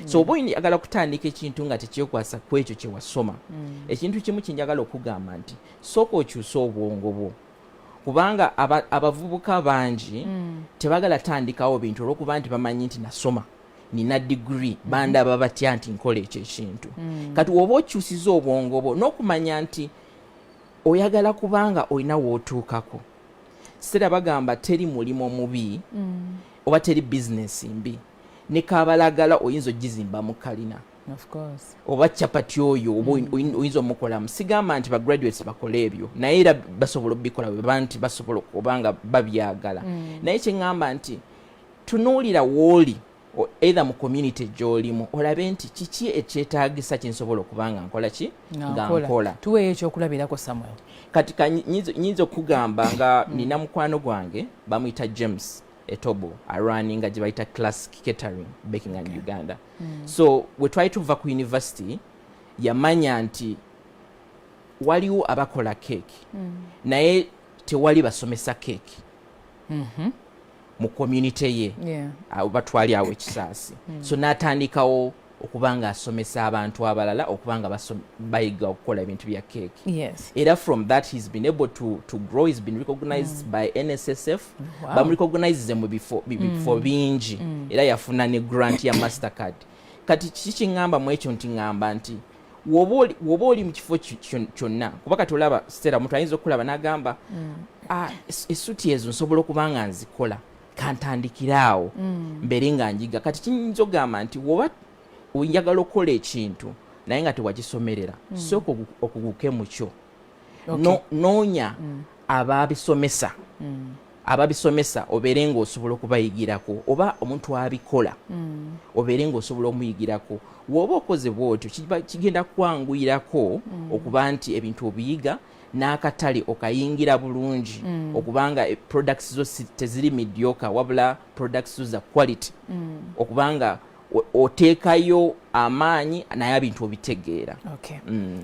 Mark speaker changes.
Speaker 1: so mm. oba oyagala kutandika ekintu nga tekyekwasa ku ekyo kye wasoma mm. ekintu kimu kye njagala okugamba nti sooka okyuse obwongo bwo kubanga abavubuka bangi mm. tebagala tandikawo bintu olwokuba nti bamanyi nti nasoma nina digiri mm-hmm. bandaba batya nti nkola ekyo ekintu kati woba okyusiza obwongo bwo n'okumanya nti oyagala kubanga olina wootuukako sitera bagamba teri mulimu mubi oba teri bizinesi mbi ne kabalagala oyinza ogizimba mu kalina oba capati oyo oba mm. oyinza omukolamu sigamba nti bagraduates bakola ebyo naye era basobola obikola weba nti basobola obanga babyagala mm. naye kyeŋamba nti tunuulira wooli eitha mu community gyolimu olabe nti kiki ekyetagisa kyensobola okuba nga nkola ki nga nkola tuweeyo ekyokulabirako
Speaker 2: samuel kati
Speaker 1: nyinza okugamba nga mm. nina mukwano gwange bamuyita james etobo arunninga gye bayita classic catering baking okay. and uganda mm. so we twali tuva ku university yamanya nti waliwo abakola keeki mm. naye tewali basomesa keeki mm -hmm. mu community ye yeah. batwali awo ekisaasi mm. so n'atandikawo okuba nga asomesa abantu abalala okuba nga bayiga okukola ebintu bya keeki yes. era from that he's been able to, to grow he's been recognized mm. by nssf wow. bamurecognizeze mu bifo mm. bingi mm. era yafuna ne grant ya master card kati kiki kiŋŋamba mu ekyo nti ŋŋamba nti woba oli mu kifo kyonna kuba kati olaba sitera omuntu ayinza okulaba n'agamba mm. ah, esuti ezo nsobola okuba nga nzikola kantandikire awo mm. mbeere nga njiga kati kiyinza ogamba nti woba oyagala okukola ekintu naye nga tewakisomerera mm. sooka okuguke mukyo noonya mm. ababisomesa ababisomesa obeere nga osobola okubayigirako oba omuntu abikola obeere nga osobola omuyigirako woba okoze bwotyo kigenda kwanguyirako okuba nti ebintu obiyiga n'akatale okayingira bulungi mm. okubanga e, products zo teziri midyoka wabula products zo za quality mm. okubanga oteekayo amaanyi naye abintu obitegeera okay. mm.